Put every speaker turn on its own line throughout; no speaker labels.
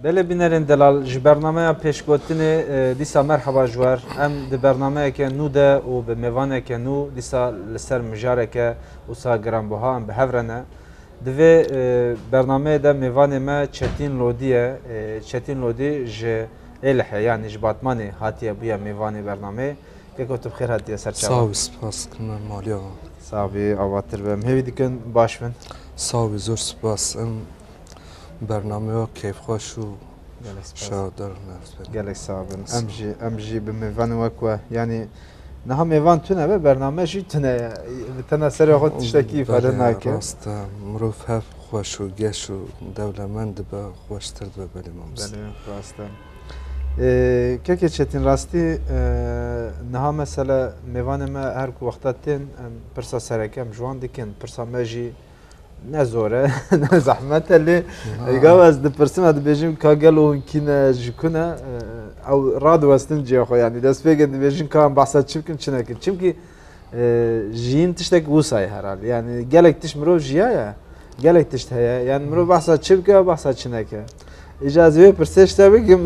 Belê bînerên delal ji bernameya pêşgotinê dîsa merheba ji wer em di bernameyeke nû de û bi mêvaneke nû dîsa li ser mijareke wisa giranbuha em bi hev re ne. Di vê bernameyê de mêvanê me Çetîn Lodî ye. Çetîn Lodî ji Êlihê yanî ji Batmanê hatiye bûye mêvanê bernameyê. Keko tu bi xêr hatiye ser çavan. Sağ ol spas dikim
em maliye wan. Sağ bî
avatir be. Em hêvî dikin baş bin. Sağ ol zor
spas. Em Bernameya kêfxweş û şaredar û mevzber. Gelek sağ bin.
Em jî em jî bi mêvan wek we yanî niha mêvan tune be bername jî tune ye. Bi tena serê xwe tiştekî îfade nake. Rast e. Mirov
hev xweş û geş û dewlemend dibe xweştir dibe belê mamoste. Belê rast e.
Kekê Çetîn rastî niha mesele mêvanê me her ku wexta tên em pirsa sereke em ji wan dikin. Pirsa me jî Ne zor e, ne zehmet e lê gava ez dipirsim e dibêjim ka gelo hûn kî ne ji ku ne ew radiwestin cêya xwe yanî destpêkê dibêjin ka em behsa çi bikin çi nekin çimkî jiyîn tiştek wisa ye herhalde yanî gelek tişt mirov jiyaye gelek tişt heye yan mirov behsa çi bike behsa çi neke Îca ez ê wê pirsê ji te bikim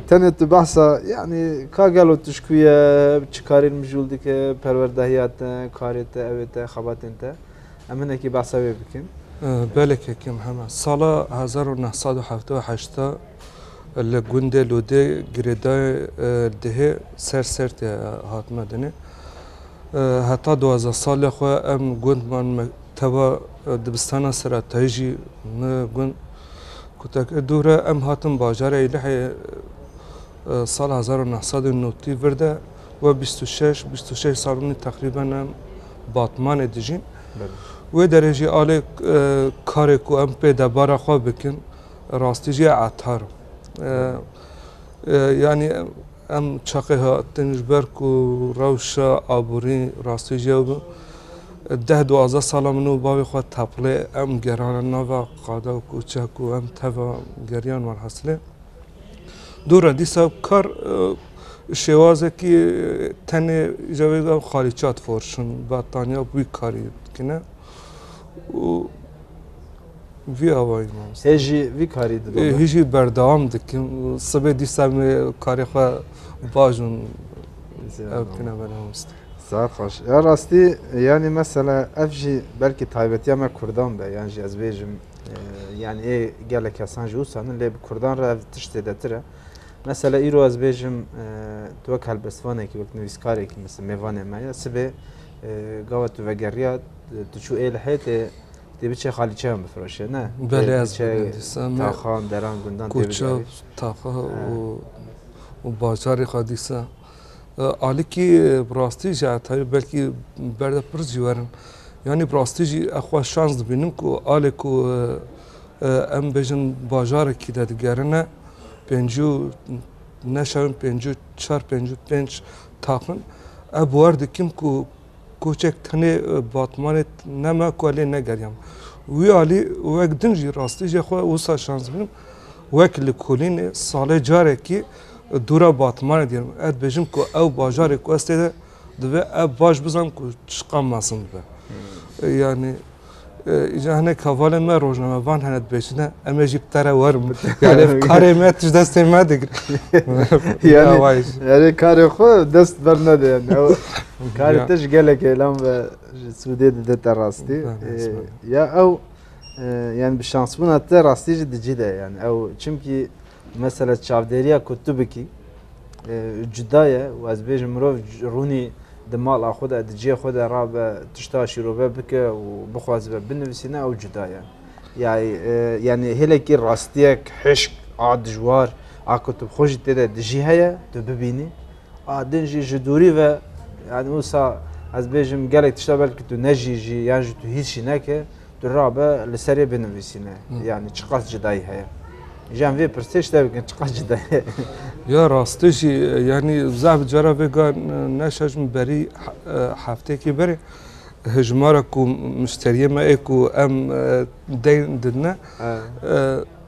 tenê tu behsa yanî ka gelo tişkû ye çi karên mijûl dike perwerdehiya te karê te evê te xebatên te em hinekî behsa wê bikin. Belê kekim
hema sala hezar û neh sed û heft û heşt de li gundê Lûdê girêdayê dihê ser Sertê hatime dinê. Heta duwazdeh salê xwe em gundman Teva dibistana seretayî jî mi gund ku te kir dûr e. Em hatin bajarê Îlihê sala hezar û neh sed û nûtî vir de we bîst û şeş bîst û şeş sal rûnî teqrîben em Batmanê dijîn. Wê derê jî alê karê ku em pê debara xwe bikin rastî jî etar in. Yanî Em çaqê hatin ji ber ku rewşa aborî rastejiya bû. Deh duwazdeh sala min û bavê xwe teplê em gerane nava qada û koçe ku em teva geriyan welhesilê. Dûre dîsa kar şêwazekî tenê îca wê de xalîça diforişin, bettaniya bi wî karî dikine û Vî awayî mamoste. Hê jî vî karî
didome? Hê jî berdewam
dikim û sibê dîsa me karê xwe baş û ew bikine me mamoste. Saet xweş. Ya
rastî yanî mesela ev jî belkî taybetiya me kurdan be yan jî ez bêjim yanî ê gelek kesan jî wisa min lê bi kurdan re ev tişt zêdetir e. Mesela îro ez bêjim tu wek helbestvanekî wek nivîskarekî mêvanê me ye sibê gawa tu vegeriya tu çû ê li hêtê Tê biçe xalîçeyan bifiroşe ne? Belê ez
dîsem. Taxan,
deran, gundan tê biçe. Taxa
û bajarê xwe dîsa. Alikî bi rastî jî hetayî belkî berde pir jî werin. Yanî bi rastî jî ev xwe şans dibînim ku alê ku em bêjin bajarekî de digerine pêncî û neşewin pêncî û çar pêncî û pênc taxin ev bi wer dikim ku Koçek tenê Batmanê ne me ku lê negeriyam. Wî alî wek din jî rastî jê xwe wisa şans bidim. Wek li Kolînê salê carekî dûra Batmanê diyar bûm. Ez dibêjim ku ew bajarê ku ez tê de divê ev baş bizan ku çiqas mezin dibe. Yanî Îca hinek hevalên me rojnamevan hene dibêjine em ê jî bi te re werin bin. Yani ev karê me tu ji destê me digir.
Yani karê xwe dest ber nede yani. Karê te ji gelek êlam ve ji sûdê dide te rastî. Ya ew yani bi şansbûna te rastî jî dicî de yani ew çimkî Mesela çavdêriya ku tu bikî cuda ye û ez bêjim mirov rûnî di mala xwe de di cihê xwe de rabe tişta şîrove bike û bixwazibe binivîsîne ew cuda ye. Yani hêlekî rastiyek hişk a dijwar a ku tu xwe jî tê de dijî heye tu bibînî a din jî ji dûrî ve yani wisa ez bêjim gelek tişta belkî tu nejî jî yan jî tu hîs jî neke Tu rabe li serê binivîsîne yanî çiqas cidayî heye. Ji em vê pirsê şte bikin çiqas cidayî heye. Ya
rastî jî yanî zaf cara vêga neşa ji min berî hefteyekî berê hejmara ku muşteriyê me ê ku em deyn didine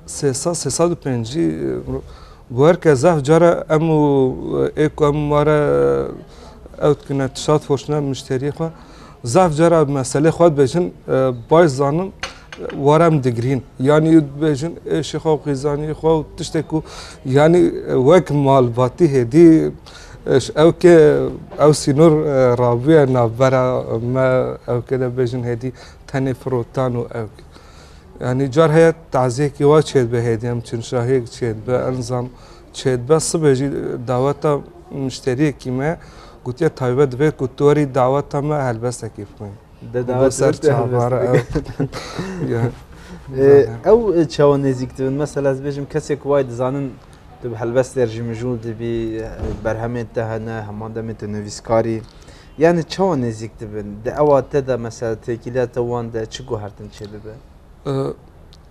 sê sed sê sed û pêncî guher ke zaf cara em û ê ku em ware ew dikine tişat forşne muşteriyê xwe Zaf cara em meselê xwe dibêjin baş dizanim wara em digirîn. Yanî dibêjin êşê xwe û xîzanî xwe û tiştê ku yanî wek malbatî hêdî ew ke ew sînor rabûye navbera me ew ke de bêjin hêdî tenê firotan û ew ke. Yanî car heye taziyekî wa çêdibe hêdî em çinşahiyek çêdibe enzam Çêdibe sibê jî daweta muşteriyekî me gotiye taybet dibe ku tu werî daweta me helbestekê bixwîn. Dawet ser
çavara ew çawa nêzîk dibin mesela ez bêjim kesê ku wayê dizanin tu bi helbestê jî mijûl dibî berhemên te hene heman demê tu nivîskarî yani çawa nêzîk dibin di ewa te de mesela têkîliya te wan de çi guhertin çêdibe?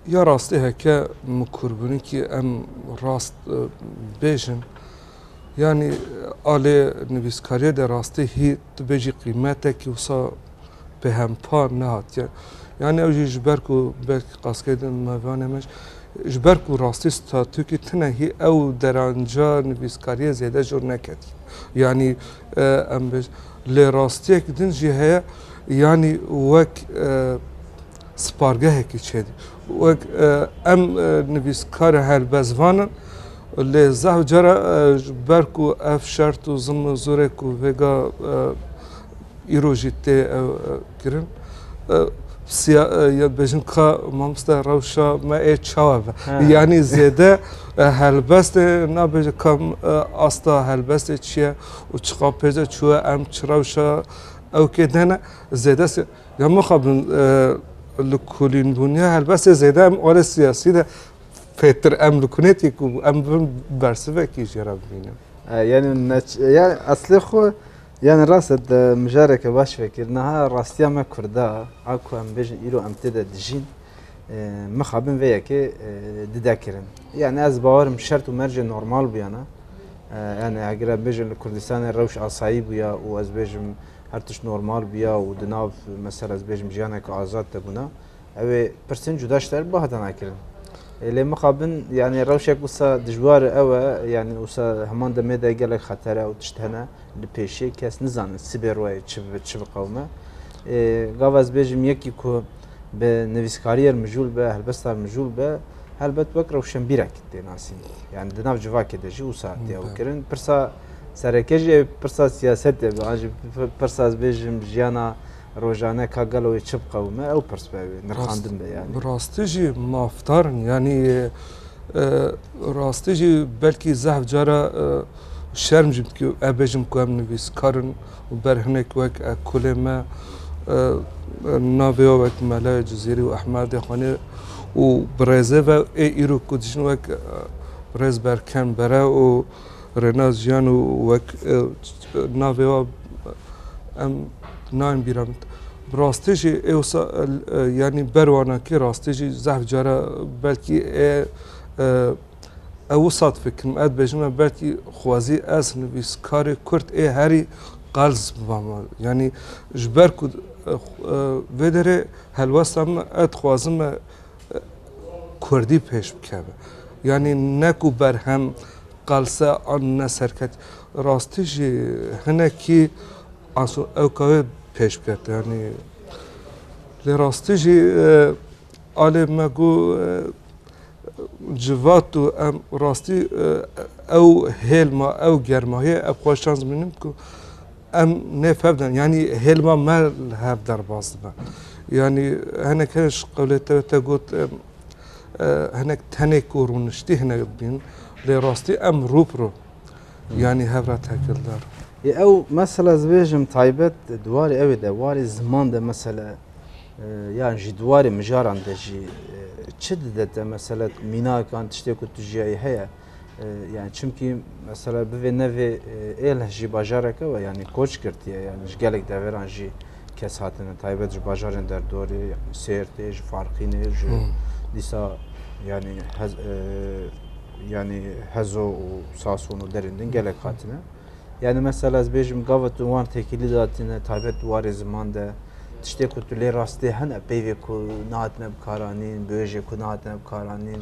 Ya rastî heke min kûrbûnikî em rast bêjin yanî a lê nivîskariyê de rastî hî tu bêjî qîmetekî wisa pêhempa nehatiye. Yanî ew jî ji ber ku belk qaskê din mevanê me ji ber ku rastî statûkî tune hî ew deranca nivîskariyê zêde jor neketî. Yanî em bêjin lê rastiyek din jî heye yanî wek Spargehekî çêdî wek em nivîskar e helbestvan in lê zehf cara ji ber ku ev şert û zilm û zorê ku vêga îro jî tê kirin ya bêjin ka mamoste rewşa me ê çawa be yanî zêde helbestê nabêje ka asta helbestê çi ye û çiqapêje çûye em çi rewşa ew kê dene zêde Ya mixabin li kulînbûniya helbestê zêde em olê siyasî de fêtir em li kunêtî ku em bin bersivekî jê re bibînin. Yani
yani eslê xwe yani rast et mijareke baş vekir niha rastiya me kurda a ku em bêjin îro em tê de dijîn mixabin vê yekê dide kirin. Yani ez bawerim şert û mercê normal bûyana. Yani eger em bêjin li Kurdistanê rewş asayî bûya û ez bêjim her tişt normal biya û di nav mesela ez bêjim jiyaneke azad de bûna ew ê pirsên cuda ji te re bahda nakirin. Lê mixabin yani rewşek wisa dijwar e ew e yani wisa heman demê de gelek xetere û tişt hene li pêşê kes nizanin sibê royê çi bibe çi biqewime. Gava ez bêjim yekî ku bi nivîskariyê mijûl be helbesta mijûl be helbet wek rewşenbîrekî tê nasîn. Yani di nav civakê de jî wisa tê ew kirin. Pirsa Sereke jî ev pirsa siyasetê be. An jî pirsa ez bêjim jiyana rojane ka gelo wê çi biqewime ew pirs be wê nirxandin be yani. Bi rastî jî
mafdarin yanî rastî jî belkî zehf cara şerm jî bikî ev bêjim ku em nivîskar in û ber hinek wek ekolê me navê wek Mele Cizîrî û Ehmedê Xanê û bi rêzê ve ê îro ku dijîn wek rêz berkem bere û rêna jiyan û wek navê wan em nayên bîra min. Bi rastî jî ê wisa yanî ber wana kê rastî jî zehf cara belkî ê ew wisa difikirim ez dibêjim me belkî xwezî ez nivîskarê Kurd ê herî qels biba me. Yanî ji ber ku vê derê helwesta min e dixwazim me Kurdî pêş bikeve. Yanî ne ku berhem qelse an ne serket rastî jî hinekî aso ewka wê pêş bikete yanî lê rastî jî alê me ku civat û em rastî ew hêlma ew germahiyê ev xweş şans bînim ku Em nê fehm din. Yanî hêlma me li hev derbas dibe. Yanî hinek hene ji qewlê te te got em hinek tenê ku rûniştî hinek dibîn lê rastî em rû bi rû yanî hev re tekildar. Yê ew mesela
ez bêjim taybet di warê ew de warê ziman de mesela yan jî di warê mijaran de jî çi dide te mesela mînakan tiştê ku tu jiyayî heye? Yani çimkî mesela bivê nevê êlh jî bajareke we yanî koç girtiye yani ji gelek deveran jî kes hatine taybet ji bajarên derdorê yani sêrtê ji farqînê ji dîsa yani hez yani hezo û sason û derên din gelek hatine yani mesela ez bêjim gava tu wan tekîlî datine taybet warê ziman de tiştê ku tu lê rastê hene peyvê ku nahatine bikaranîn bêjê ku nahatine bikaranîn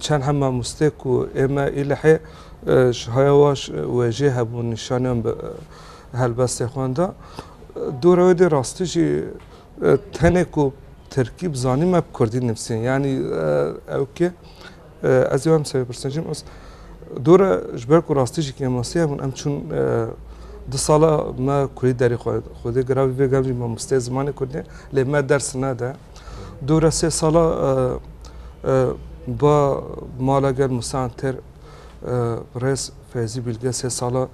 Çend hem mamostê ku ê me Îlihê ji haya waş wê jê hebûn nîşaniyan bi helbestê xwen da. Dora wê dê rastî jî tenê ku Tirkî bi zanîn me bi Kurdî nivîsîn. Yanî ew kê ez ê wem serê pirsin jî mes dora ji ber ku rastî jî kêmasî hebûn em çûn du sala me kurî derê xwedê giravî vê gel jî mamosteyê zimanê kurdî lê me ders nede. Dûra sê sala ba mala gel Musan Ter rêz Feyzî Bîlge sê sala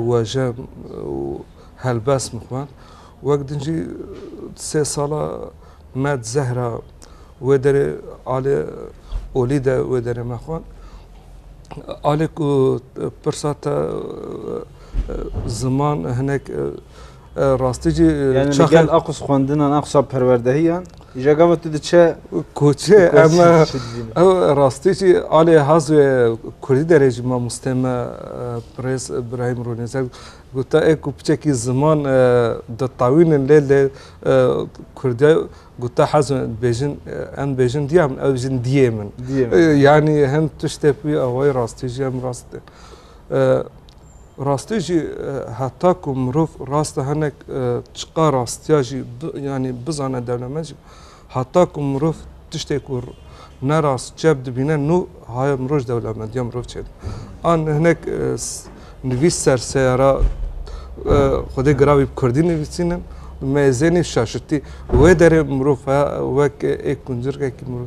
wejen û helbest min xwend. Wek din jî sê sala me di Zehra wê derê alê olî de wê derê me xwend. Alê ku pirsa te ziman hinek Rastî jî Yani li gel
a qûs xwendinan, a qûsa perwerdehiyan îja gava tu diçe koçê em
ew rastî jî alê haz wê Kurdî derê jî mamosteyê me Pirêz Îbrahîm Rûnêzer gote ê ku piçekî ziman ditawînin lê lê Kurdî gote hezin dibêjin em dibêjin diya min ew jin diyê min. Yanî hin tiştê wî awayî rastî jî em rast Rastî jî heta ku mirov rast e hinek çiqa rastiya jî yanî bizane dewlemend jî heta ku mirov tiştê ku ne rast çep dibîne nû haye miroj dewlemendiya mirov çêdibe. An hinek nivîs ser seyara xwedê gira wî bi kurdî nivîsînin mêzênî şaşitî. Wê derê mirov wek ê kuncirgekî mirov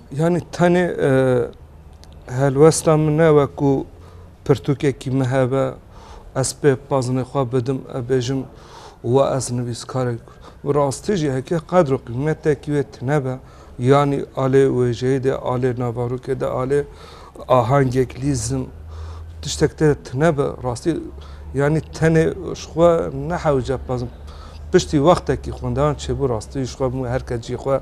Yanî tenê helwesta min ne wek ku pirtûkekî min hebe ez pê pazinê xwe bidim e bêjim wa ez nivîskarek im. Bi rastî jî heke qedr û qîmetekî wê tune be yanî alê wêjeyê de alê navarokê de alê ahengek lîzim tiştek te de tune be rastî yanî tenê ji xwe nehewce pezim. Piştî wextekî xwendevan çêbû rastî ji xwe bû herkes cî xwe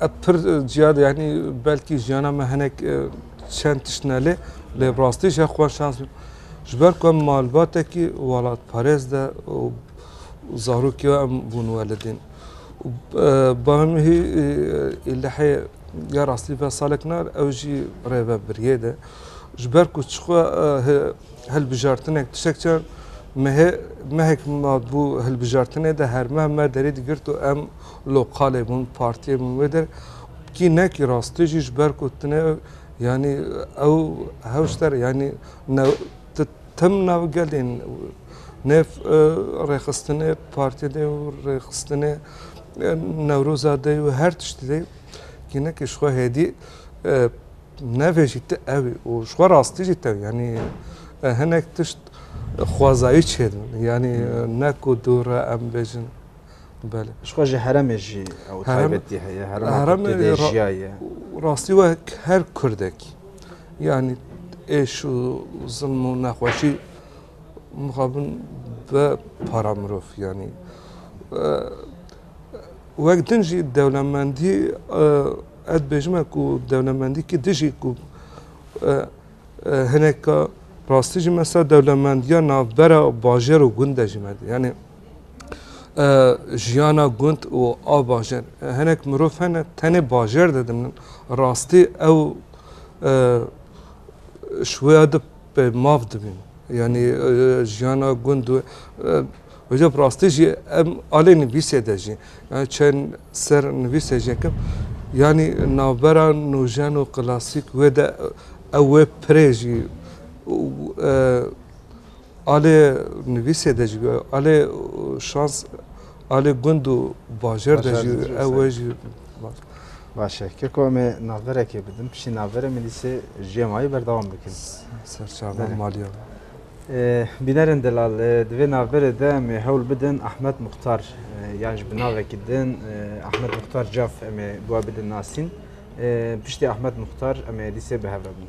Ev pir ciyade yani belkî jiyana me hinek e, çend tişt nelê lê bi rastî jî xwe şans bû. Ji ber ku em malbatekî welatparêz de û zarokî we em bûn welidîn. Û, e, Bavê hî e, îlihê ya rastî ve salek nar ew jî rêve biriyê de. Ji ber ku çixwe e, he- hilbijartinek tiştek çar mehê mehek me bû hilbijartinê de her meh me derî digirt û em Lokalê bûn, partiyê bûn wê der kî ne kî rast tu jî ji ber ku tu ne yanî ew hewşter yanî tu tim nav gelên ne rêxistinê partiyê de û rêxistinê newroza de û her tiştî de kî ne kî ji xwe hêdî nevêjî tu ew î û ji xwe rastî jî tew yanî hinek tişt xwezayî çêdin yanî ne ku dû re em bêjin Belê. Ji xwe ji heremê
jî ew taybetî heye. Heremê jiyaye. Rastî wek
her Kurdek yanî êş û zilm û nexweşî mixabin be para mirov yanî. Wek din jî dewlemendî ez bêjime ku dewlemendî ki dijî ku hineka rastî jî mesela dewlemendiya navbera bajêr û gunde jî me. jiyana gund û a bajêr. Hinek mirov hene tenê bajêr de dimnin. Rastî ew ji wê ya de pê mav dibîn. Yanî jiyana gund û Hocam rastî jî em alê nivîsê de jî. Yani çend ser nivîsê jî yekim. Yanî navbera nûjen û klasîk wê de ew wê pirê jî Alê nivîsê de jî alê şans alê gund û bajar de jî ew e jî Baş
e. Keko em ê navberekê bidin piştî navberê min dîsê jiyê mayî berdewam bikin. Serçava
maliya.
Bînerên delal di vê navberê de em ê hewl bidin Ahmet Muxtar yan ji bi navekî din Ahmet Muxtar Caf em ê bi we bidin nasîn. Piştî Ahmet Muxtar em ê dîsê bi hev re bin.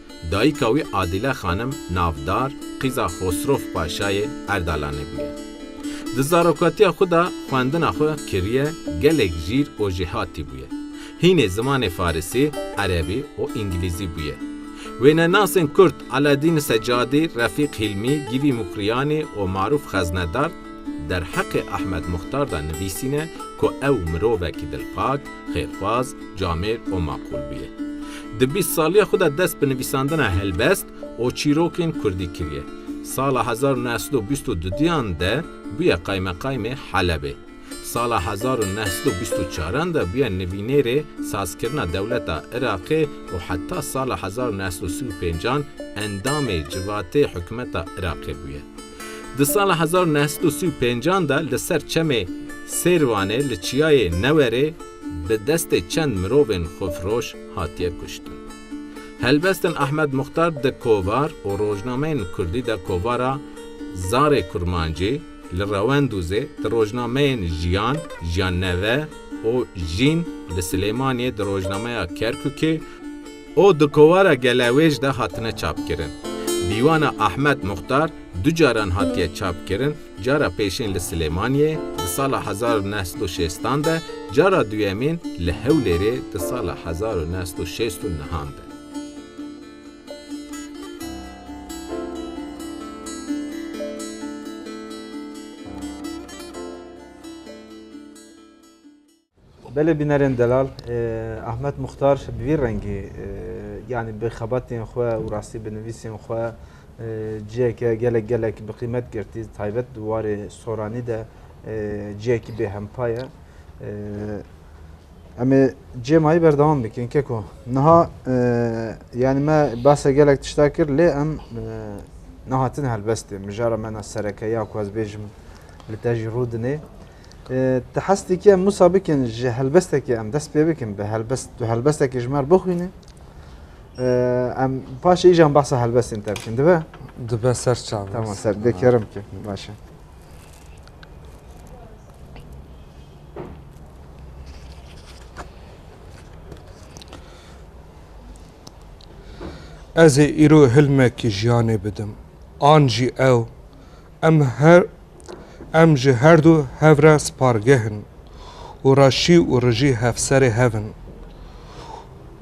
Dayika wî Adîle Xanim navdar qîza Xosrof Paşayê Erdalanê bûye. Di zarokatiya xwe de xwendina xwe kiriye gelek jîr û jêhatî bûye. Hînê zimanê Farisî, Erebî û Îngilîzî bûye. Wênenasên Kurd Eladîn Secadî, Refîq Hîlmî, Gîvî Mûkrîyanî û Marûf Xeznedar derheqê Ehmed Muxtar de nivîsîne ku ew mirovekî dilpak, xêrxwaz, camêr û maqûl bûye. Di bîst saliya xwe de dest bi nivîsandina helbest û çîrokên kurdî kiriye. Sala hezar û neh sed û bîst û dudiyan de bûye qaymeqaymê Helebê. Sala hezar û neh sed û bîst û çaran de bûye nivînêrê sazkirina dewleta Iraqê û heta sala hezar û neh sed û sî û pênc an endamê civatê hikûmeta Iraqê bûye. Di sala hezar û neh sed û sî û pênc an de li ser çemê Sêrvanê li çiyayê Newerê bi destê çend mirovên xwefiroş hatiye kuştin. Helbestin Ahmed Muxtar di kovar û rojnameyên kurdî de kovara Zarê Kurmancî, Li Rewendûzê, di rojnameyên Jiyan, Jiyanneve û Jîn, li Silêmaniyê, di rojnameya Kerkûkê, û di kovara Gelewêj de hatine çapkirin. Dîwana Ahmed Muxtar du caran hatiye çapkirin. Cara pêşên li Silêmaniyê di sala hezar û neh sed û şêstan de, cara duyemîn li Hewlêrê di sala hezar û neh sed û şêst û nehan de.
Belê bînerên delal Ahmet Muxtar bi vî rengî yanî bi xebatên xwe û rastî bi nivîsên xwe ciyeke gelek gelek bi qîmet girtî taybet di warê soranî de ciyekî bê hempa ye. Em ê cê mayî berdewam bikin keko. Niha yanî me base gelek tişta kir lê em nehatin helbestê mijara me na sereke ya ku ez bêjim li te jî rû dinê. Ti hez dikiye Musa bikin ji helbestekê em dest pê bikin bi helbest tu helbestekê ji me re bixwîne em paşê îjan behsa helbestên te bikin dibe? Dibe ser
çav. Tamam ser dekerim
ki başe.
Ez ê îro hilmekî jiyanê bidim an jî ew em her Em ji herdu hev re spargeh in û raşî û rijî hevserê hev in.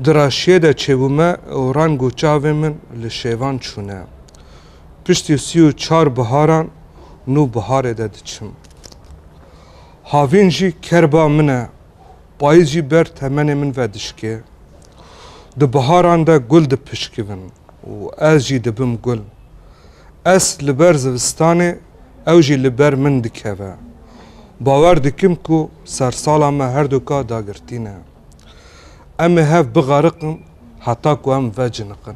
Di raşiyê de çêbûme û reng û çavên min li şêvan çûne. Piştî sî û çar biharan nû biharê de diçim. Havîn jî kerba min e, payîz jî ber temenê min ve dişkê. Di biharan de gul dipişkivin û ez jî dibim gul. Ez li ber zivistanê, ew jî li ber min dikeve. Bawer dikim ku sersala me herdoka dagirtî ne. Em ê hev bixariqin heta ku em veciniqin.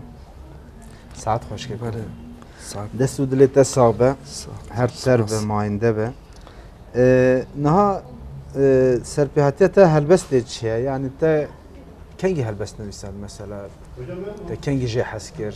Saet xweşik. Belê. Saet.
Dest û dilê te sax
be. Her ser be, mayinde be. Niha serpêhatiya te helbestê çi ye? Yani te kengî helbest nivîsand mesela? Te kengî jê hez kir?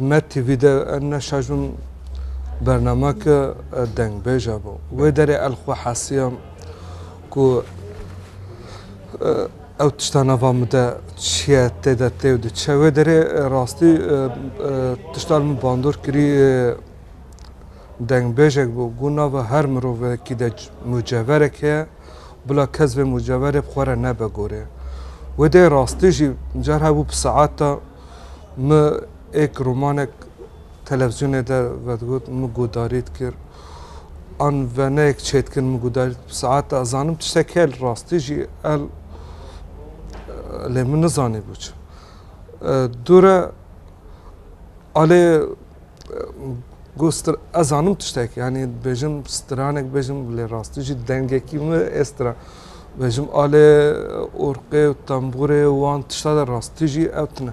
ne TV de ne şajun bernama ke dengbêja bo. Wê derê el xwe hesiyam ku ew tişta nava min de çiye tê de tê û diçe. Wê derê rastî tişta li min bandor kirî Dengbêjek bû, got nava her mirovekî de muceverek heye, bila kes vê muceverê bi xwe re nebe gorê. Wêdeyê rastî jî car hebû bi saeta min êk romanek televîzyonê de vedigot, min guhdarî dikir. An veneyek çêdikin min guhdarî dikir bi saeta ez zanim tiştek heye li rastî jî el lê min nizanîbû çi. Dûre alê. Got stir ez zanim tiştek yanî dibêjim stiranek bêjim lê rastî jî dengekî min ê stira bêjim alê orqê û tembûrê wan tişta de rastî jî ew tune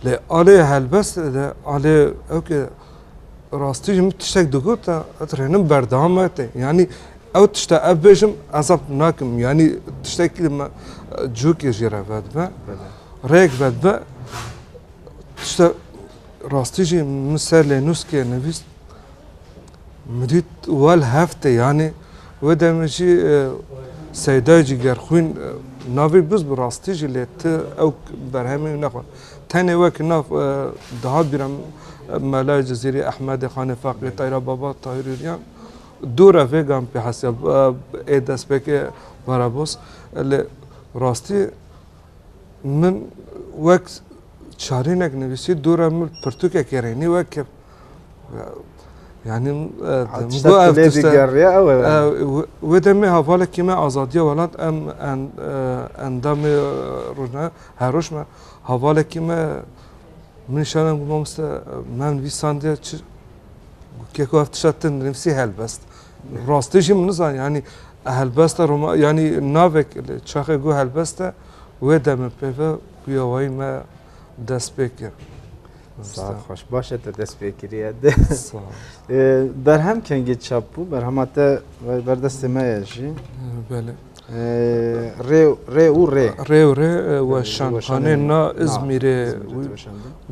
lê alê helbes de alê ew ke rastî jî min tiştek digot e ez rênim berdewam me tê yanî ew tişta ev bêjim ez ev nakim yanî tiştekî li me cûkê jê re vedbe rêk vedbe tişta Rastî jî min ser lê nûskê nivîst min dît wel heft e yanê wê demê jî e, Seydayê Cîgerxwîn e, navê biz bi rastî jî lê ti ew berhemê wî nexwe. Tenê wekî nav e, dihat bîra min e, Melayê Cizîrî, Ehmedê, Xanê Faqî, Tayra Baba, Tahîr Hûrîyan dû re vê gan pê hesîya e, ê destpêkê Verebost e lê rastî Min wek çarînek nivîsî dûra min pirtûkekê rênî wek kir. Yani wê demê hevalekî me azadiya welat em endamê rojna her roj me hevalekî me min şanem ku mamoste me nivîsandiye keko ev tişta tu nivîsî helbest. Rastî jî min nizan yanî helbesta roma yanî navek li çaxê got helbeste wê demê pê ve guya wayî me dest pê kir. Sağ
hoş. Başa te dest pê kiriye. Berhem kengê çap bû, berhema te berdestê me ye jî. Belê. Rê rê û rê. Rê û rê weşanxanê
na İzmirê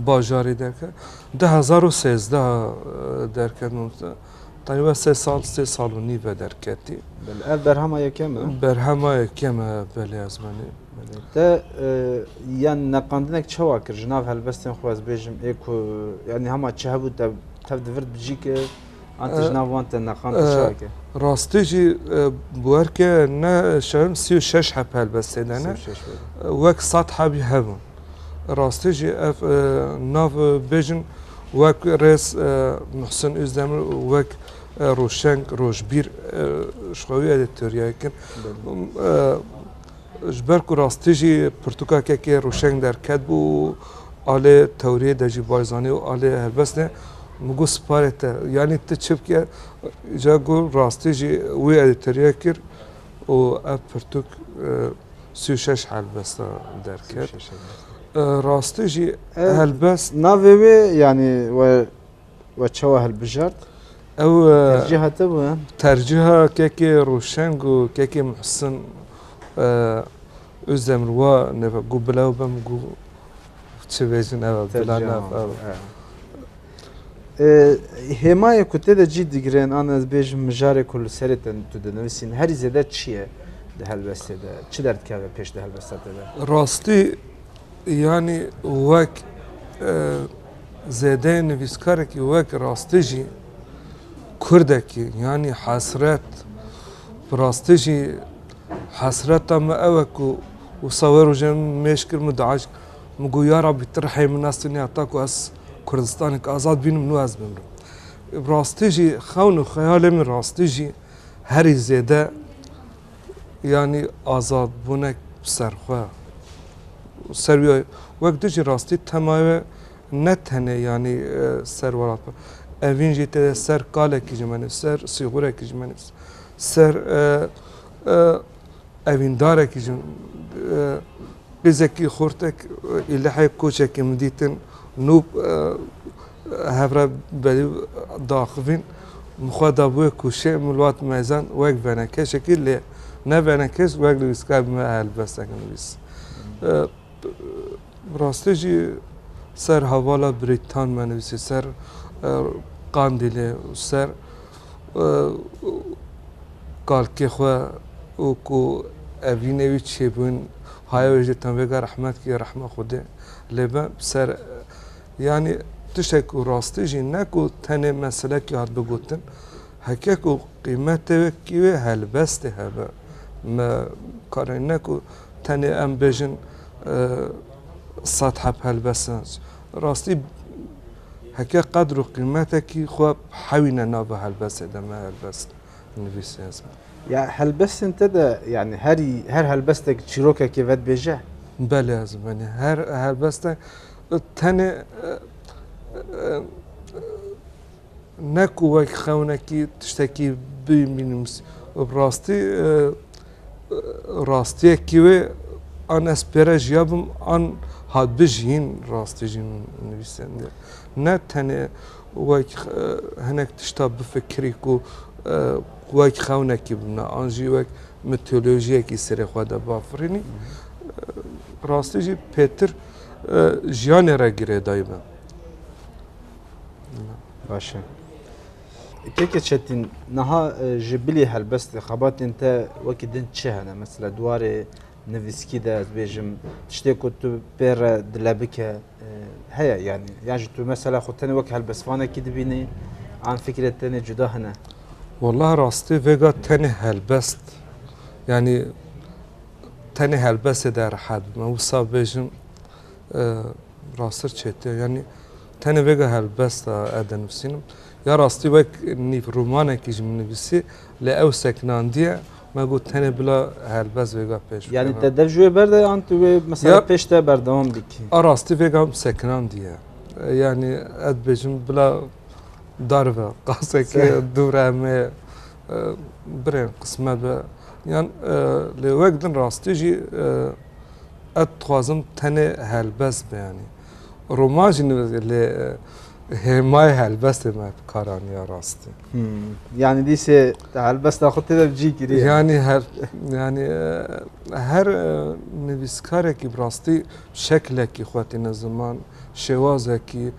bajarê derke. 2013 derket Taywa sê sal, sê sal û nîv ve derketî. Belê, ev berhema
yekem e? Berhema yekem
e, belê ez menê. Belê, te
yan neqandinek çawa kir ji nav helbestên xwe ez bêjim ê ku yanî hema çi hebû te tev divirt bi cî kir an te ji nav wan te neqand te çawa kir? Rastî jî
bi werke ne şewim sî û şeş heb helbestê de ne wek sed hebî hebûn. Rastî jî ev nav bêjin wek rêz Muhsin Ozdemir û wek Rojşeng Rojbîr ji xewî erê teoriya kin. Ji ber ku rastî jî pirtûka kekê Rojşeng derket bû alê tewriyê de jî Barzanî û alê helbestê min got sparê te yanî tu çi bike ca got rastî jî wî erê teoriya kir. û ev pirtûk sî û şeş helbestan derket. Rastî jî helbest navê wê
yanî we we çawa hilbijart? Ew
tercîha te
bû? Tercîha
kekê Rûşeng û kekê Muhsin Özdemir wa neva gû bila bim gû çi bêjin ev bila nava.
Hêmayê ku tê de cî digirin an ez bêjim mijarê ku li serê te tu dinivîsîn herî zêde çi ye di helbestê de çi derdikeve pêş di helbesta te de? Rastî
yanî wek zêdeyê nivîskarekî wek rastî jî kurdekî yanî hesret bi rastî jî hesreta me ew e ku wisa wê rojê min mêj kir min diaşk min got ya Rabbî tu rihê min nas tenê heta ku ez Kurdistanek azad bînim nû ez bimrim. Bi rastî jî xewn û xeyalê min rastî jî herî zêde yanî azadbûnek bi ser xwe ser wî wek tu jî rastî temaya we ne tenê yanî ser welat be. Evîn jî tê de ser kalekî ji min ser sîxurekî ji min ser Evîndarekî ji pêzekî xortek ê lehê koçekê min dîtin nû hev re berî diaxivîn min xwe da bi wê koçê min li wat mezan wek venekeşekî lê ne venekêş wek nivîskar bi me helbestek nivîs. Bi rastî jî ser hevala Brîtan me nivîsî, ser Qandîlê û ser kalkê xwe û ku evînê wî çêbûn haya wê jî tevgera rehmet kî rehma Xwedê lê be bi ser yanî tiştek ku rastî jî ne ku tenê meselekî hat bigotin heke ku qîmetê wê kî wê helbestê hebe me karê ne ku Tenê em bêjin sed heb helbestin. Rastî heke qedr û qîmetekî xwe hewîne nava helbestê de me helbest nivîsî ez. Ya helbestên
te de yani herî her helbestek çîrokekê vedibêje? Belê ez
benê her helbestek tenê Ne ku wek xewnekî tiştekî bî bînûs. Bi rastî rastiyekî wê an ez pêre jiya bim an hat bijîn rastî jî min nivîsendî. Ne tenê wek hinek tişta bifikirî ku wek xewnekî bimne an jî wek mîtolojiyekî serê xwe de bafirînî. Rastî jî pêtir jiyanê re girêdayî me.
Baş e. Keke Çetîn, niha ji bilî helbestê xebatên te wekî din çi hene? Mesela di warê nivîskî de ez bêjim tiştê ku tu pê re dile bike heye yanî yan ji tu mesela xwe tenê wek helbestvanekî dibînî an fikrê tenê cuda hene? Wallah rastî
vêga tenê helbest yanî tenê helbestê de rehet bime wisa bêjim Rastir çêtiya yanî tenê vêga helbesta ez dinivîsînim. Ya rastî wek nîv romanekî ji min nivîsî lê ew sekinandiye me got tenê bila helbest vêga pêş bikeve. Yanî te dev ji wê ber de
an tu wê mesela pêş te berdewam bikî? A rastî vêga
sekinandiye. Yanî ez dibêjim bila darive qasekê dûre me birê qisme be yan lê wek din rastî jî Ez dixwazim tenê helbest be yanî roman jî nivîsim lê hêmayê helbestê me bi kar aniya rastî. Yanî
dîsê te helbesta xwe tê de bi cî kiriye. Yanî her
yanî her nivîskarekî bi rastî şeklekî xwe tîne ziman şêwazekî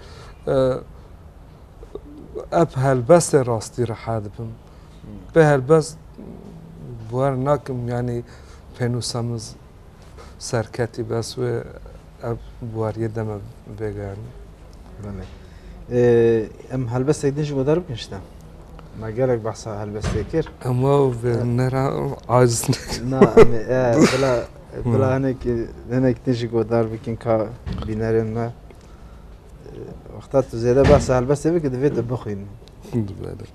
ev helbestê rastî riha dibim. Bê helbest bi wer nakim yanî pênûsa min serketî bes wê ev wariyê deme vêgeyanî. Belê.
Em helbestek din ji bo derbikin ji te. Me gelek behsa helbestê kir. Ema vê
nera aciz Na
bila bila hinek hinek din ji bo derbikin ka bînerên me. Wexta tu zêde behsa helbestê bikir divê tu bixwînin. Belê.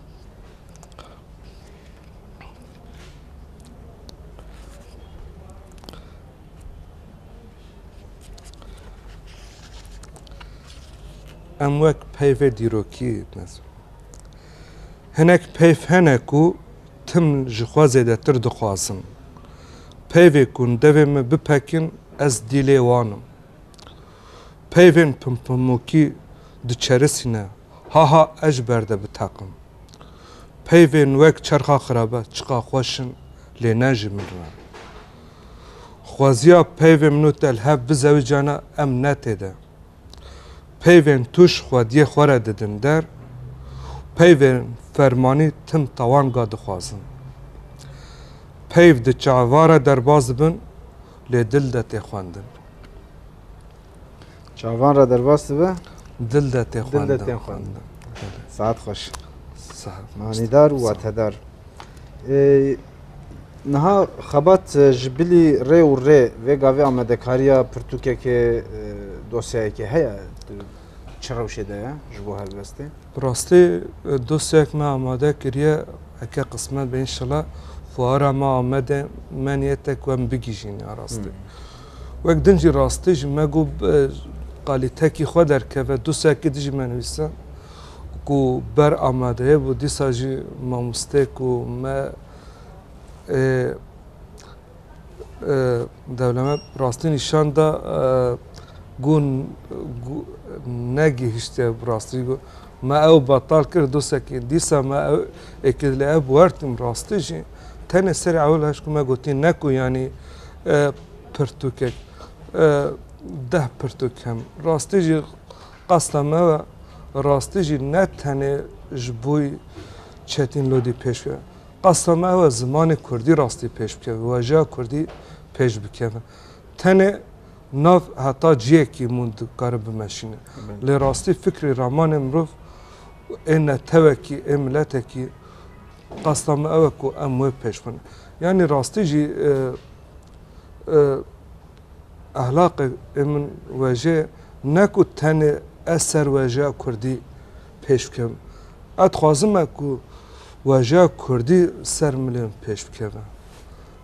Em wek peyvê dîrokî mezin. Hinek peyv hene ku tim ji xwe zêdetir dixwazin. Peyvê ku devê min bipekin ez dîlê wan im. Peyvên pimpimokî diçerisîne Ha ha ez ji ber de biteqim. Peyvên wek çerxa xirabe çiqa xweş in lê ne ji min re. Xweziya peyvên min û te li hev bizewicane em ne tê de. Peyvên tuş xwediyê xwe re didin der û peyvên fermanî tim tawanga dixwazin. Peyv di çaeva re derbas dibin lê dil de tê xwendin.
Çavan re derbas dibe. Dil de tê xwendin.
Dil de tê xwendin. Saet
xweş. Manîdar û watedar. Niha xebat ji bilî rê û rê vê gavê amadekariya pirtûkekê dosyayekê heye çi rewşê de ye ji bo helbestê? Bi rastî
dosyayek me amade kiriye heke qismet be înşela fuara me Amedê me niyet e ku em bigihîjîn ya rastî. Wek din jî rastî ji me got qalîtekî xwe derkeve du sekî dijî me nivîse ku ber amadeye bû dîsa jî mamosteyê ku me dewleme rastî nîşan da ku negihiştiye bi rastî got me ew betal kir du sekî dîsa me ew êkê li ev werdim rastî jî tenê serê ewil hişt ku me gotî ne ku yanî Pirtûkek deh pirtûk him. Rastî jî qasta me we rastî jî ne tenê ji bo Çetîn Lodî pêş bikeve. Qasta me ew e zimanê Kurdî rastî pêş bikeve, wejeya Kurdî pêş bikeve. Tenê nav heta ciyekî hûn dikarin bimeşînin. Lê rastî fikrê ramanê mirov ê netewekî, ê miletekî Qasda me ew e ku em wê pêş bin. Yanî rastî jî ehlaqê min wejê ne ku tenê ez ser wejeya kurdî pêş bikim. Ez dixwazim me ku wejeya kurdî ser milê min pêş bikeve.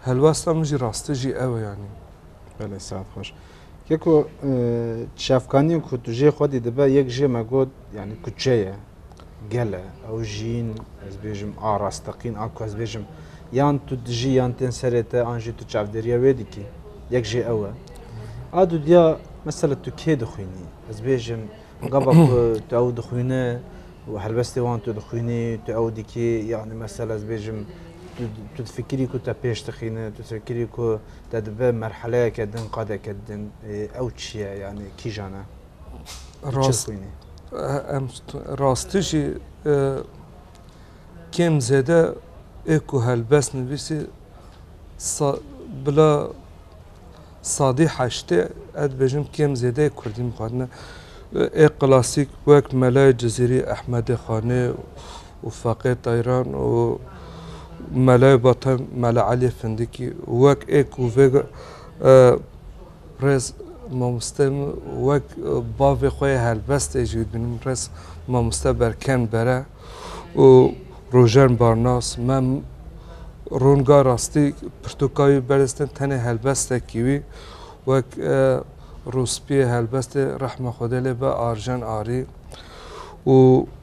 Helwesta min jî rastî jî ew e yanî. Belê, saet
xweş. Ye ku çavkaniyên ku tu jê xwedî dibe yek jê me got yani kuçe ye gel e ew jiyîn ez bêjim a rasteqîn a ku ez bêjim yan tu dijî yan tên serê te an jî tu çavdêriya wê dikî yek jê ew e a du diya mesela tu kê dixwînî ez bêjim gava ku tu ew dixwîne û helbestê wan tu dixwînî tu ew dikî yani mesela ez bêjim tu fikirî ku te pêş dixîne tu fikirî ku te dibe merheleyeke din qadeke din ew çi ye yanî kîjan e xwînî
em rastî jî kêm zêde ê ku helbes nivîsî bila sadî heştê ez dibêjim kêm zêde ê kurdî mixwendine ê klasîk wek Mele Cizîrî, Ehmedê Xanê û Faqê Tayran û Melayê Batan Mela Elî Findikî wek ê ku vê rêz mamoste min wek bavê xwe yê helbestê jî dibînim min rêz mamoste Berken Bere û Rojen Barnas me ronga rastî pirtûka wî berz din tenê helbestekî wî wek rûspiyê helbestê rehma Xwedê lê be Arjen Arî û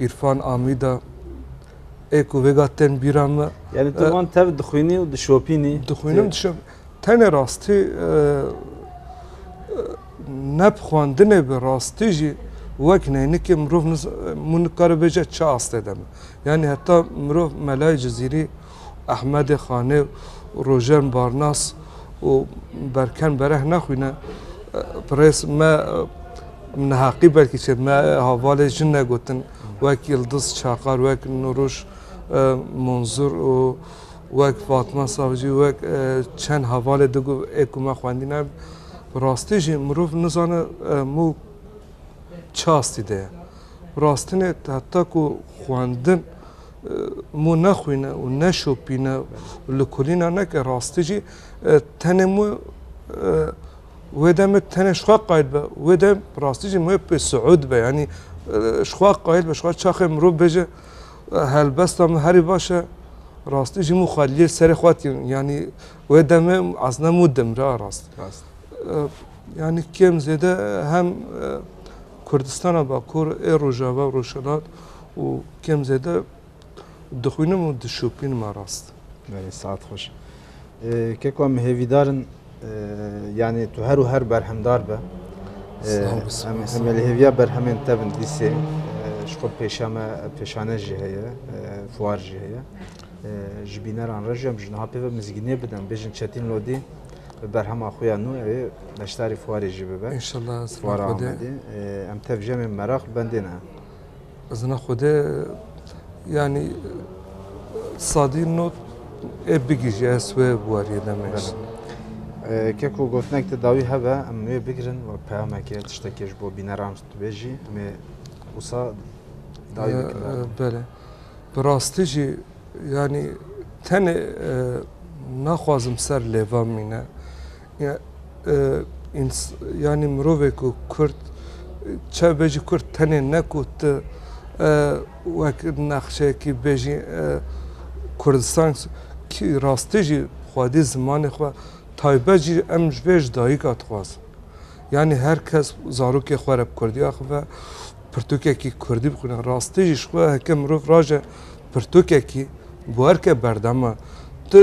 Îrfan Amîda ê ku vêga tên bîra me. Yani tu wan tev
dixwînî û dişopînî? Dixwînim dişop.
Tenê rastî ne bi xwendinê bi rastî jî wek neynikê mirov min nikaribêje çi astê de me. Yani heta mirov melayê cizîrî Ehmedê Xanê û Rojen Barnas û Berken Bereh naxwîne. Pirês me neheqî belkî çêt me havalê jin negotin wek Yildiz Çakar, wek Nûruş Munzur û wek Fatma Savcî wek çend hevalê di gul ê ku me xwendîne bi rastî jî mirov nizane mû çi astî de ye. Bi rastinê heta ku xwendin Mû nexwîne û neşopîne û li kulîna neke rastî jî tenê mû wê demê tenê ji xwe qayîl be. Wê dem rastî jî mûyê pê siûd be yanî ji xwe qayîl be ji xwe çaxê mirov bêje helbesta min herî baş e rastî jî mû xwe lê serê xwe tînin yanî wê demê ezna mû dimre a rast. Yanî kêm zêde hem Kurdistana Bakur ê Rojava û Rojhilat û kêm zêde dixwînim û dişopînim me rast. Belê saet xweş.
Keko em hêvîdar in yanê tu her û her berhemdar be. Em li hêviya berhemên te bin dîsê ji xwe pêşame pêşane jî heye, fuar jî heye. Ji bîneran re jî em ji niha pê ve mizgînê bidin bêjin Çetîn Lodî bi berhema xwe ya nû evê beşdarî fuarê jî bibe. Fuara Amedê em tevjemê meraq bendê ne. Zina
Xwedê yanî sadî not ê bigîjî ez wê warîyê demêj.
Ke ku gotinek te dawî hebe em wê bigirin we peyameke tiştekê ji bo bîneran ji dibêjî em ê wisa dawî bikin. Bele
bi rastî jî yanî tenê naxwazim ser lêvan mîne. Yani mirovê ku Kurd çav bêjî Kurd tenê ne ku tu wek nexşeyekî bêjî Kurdistan kî rastî jî xwedî zimanê xwe taybet jî em ji vê ji dayîka dixwazin. Yani her kes zarokê xwe re bi Kurdî axive. Pirtûkekî kurdî bixwîne. Rastî jî ji xwe heke mirov raje pirtûkekî guherke berdema tu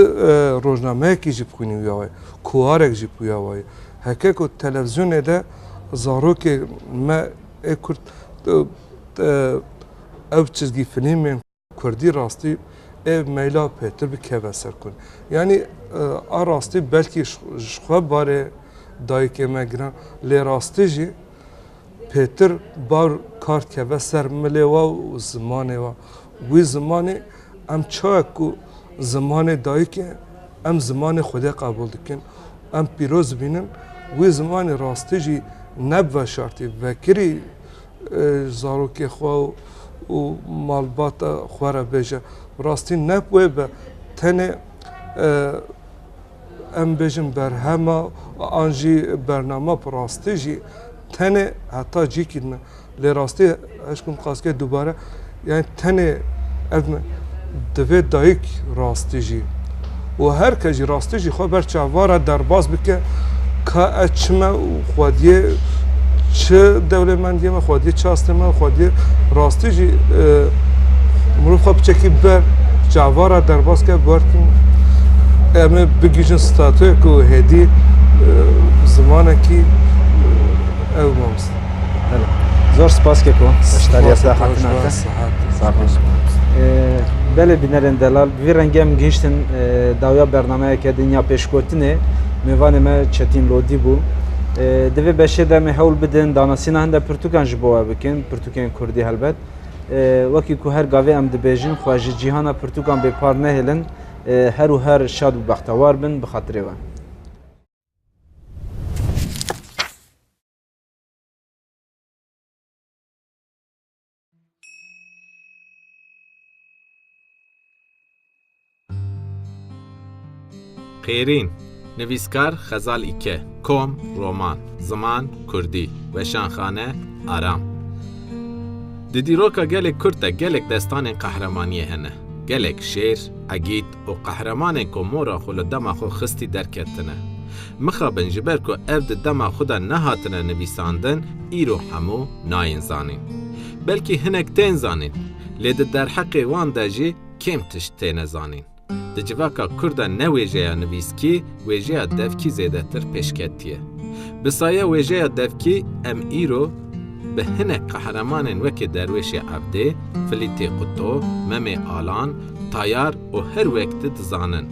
rojnameyekî jî bixwînî wîya wayî, kuwarek jî wîya wayî. Heke ku televîzyonê de zarokê me ê kurd ew çizgî filîmên. Kurdî rastî ev meyla pê tu bikeve ser ku yanî a rastî belkî ji xwe barê dayikê me giran lê rastî jî pêtir bar kar dikeve ser milê we û zimanê we wî zimanê em çawa ku zimanê dayikê em zimanê xwedê qebûl dikin em pîroz dibînin wî zimanê rastî jî ne bi veşartî vekirî zarokê xwe û malbata xwe re bêje. Bi rastî nep wê be tenê em bêjin berhema an jî bernama bi rastî jî tenê heta cîkî din e. Lê rastî hişk bikim qasî ke dubare Yani tenê ev ne, divê dayik rastî jî û her kes jî rastî jî xwe ber çavara derbas bike ka ez çi me û xwediyê çi dewlêmendiyê me, xwediyê çi astê me, xwediyê rastî jî e, mirov xwe biçekî ber çavara derbas ke berkin em ê bigihîjin statuya ku hêdî e, zimanekî e, ew mamoste.
Zor spas ke ku beşdarîya vê hatina kir. Sağ ol. Belê bînerên delal bi vî rengê em gihîştin dawiya bernameyeke din ya pêşgotinê mêvanê me Çetîn Lodî bû. Di vê beşê de em ê hewl bidin danasîna hinde pirtûkan ji bo we bikin, pirtûkên Kurdî helbet. Wekî ku her gavê em dibêjin xwe ji cîhana pirtûkan bêpar nehêlin, her û her şad û bextewar bin bi xatirê we.
Xêrîn, nivîskar Xezal Îke, kom, roman, ziman, kurdî, weşanxane, aram. Di dîroka gelê Kurd de gelek destanên qehremaniyê hene. Gelek şêr, egît, Û qehremanên ku mora xwe li dema xwe xistî derketine. Mixabin ji ber ku ev di dema xwe de nehatine nivîsandin îro hemû nayên zanîn. Belkî hinek tên zanîn, lê di derheqê wan de jî kêm tişt têne zanîn. Di civaka kurd de ne wêjeya nivîskî, Wêjeya devkî zêdetir pêşketiye. Bi saye wêjeya devkî em îro bi hinek qehremanên wekê Derwêşê Evdê, Filîtê Quto, Memê Alan, Tayar û her wek di dizanin.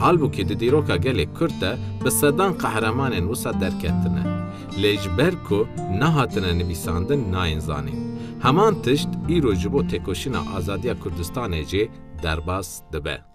Halbûkî di dîroka gelê Kurd de bi sedan qehremanên wisa derketine. Lê ji ber ku nehatine nivîsandin nayên zanîn. Heman tişt îro ji bo têkoşîna azadiya Kurdistanê jî derbas dibe.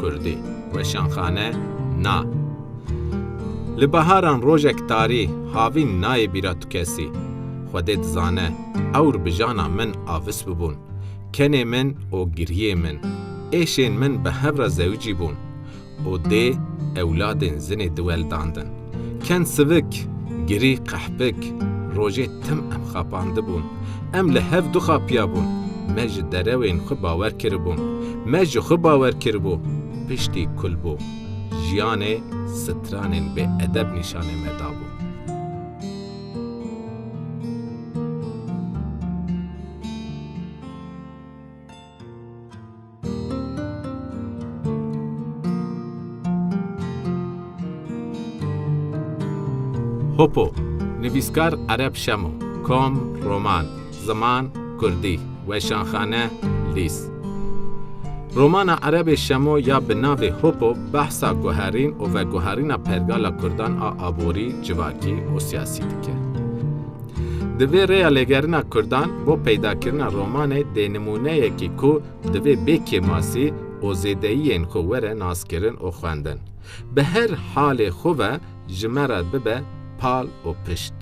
Kurdî, Weşanxane, Na. Li baharan rojek tarî, havîn nayê bîra tu kesî. Xwedê dizane, ewr bi jana min avis bibûn. Kenê min û giriyê min, êşên min bi hevra zewicî bûn û dê ewladên zinê diweldandin. Ken sivik, girî qehpik, rojê tim em xapandibûn. Em li hev dixapiyabûn, me ji derewên xwe bawer kiribûn. Me ji xwe bawer kiribû, piştî kul bû. Jiyanê stranên bê edeb nîşanê me dabû. Hopo, nivîskar Ereb Şemo, kom, roman, ziman, kurdî, weşanxane, lîs. Romana Erebê Şemo ya bi navê Hopo behsa guherîn û veguherîna pergala kurdan a aborî, civakî û siyasî dike. Di vê rêya lêgerina Kurdan bo peydakirina romanê dê nimûneyekî ku divê bê kêmasî û zêdeyiyên xwe were naskirin û xwendin. Bi her halê xwe ve ji me re bibe pal û pişt.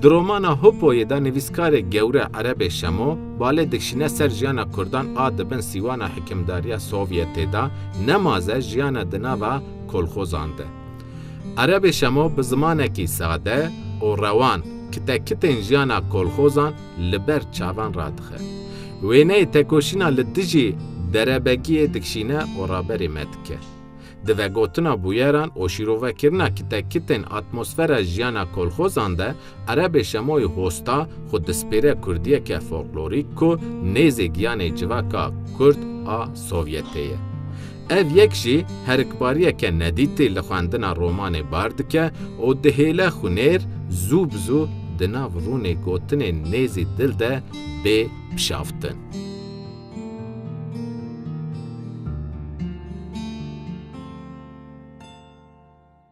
Di romana Hupoyê de nivîskarê gewre Erebê Şemo balê dikşîne ser jiyana Kurdan a di bin sîwana hikimdariya Sovyetê de nemaze jiyane di nava kolxozan de. Erebê Şemo bi zimanekî sade û rewan kite kitên jiyana kolxozan li ber çavan radixe. Wêneyê tekoşîna li dijî derebegiyê dikişîne û raberê me dike. Di vegotina bûyeran û şîrovekirina kite kitên atmosfera jiyana kolxozan de, Erebê Şemoyî Hosta xwe dispêre kurdiyeke folklorîk ku nêzê giyanê civaka kurd a Sovyetê ye. Ev yek jî herikbariyeke nedîtî li xwendina romanê bar dike û dihêle xwinêr zû bi zû di nav rûnê gotinê nêzî dil de bê pişaftin.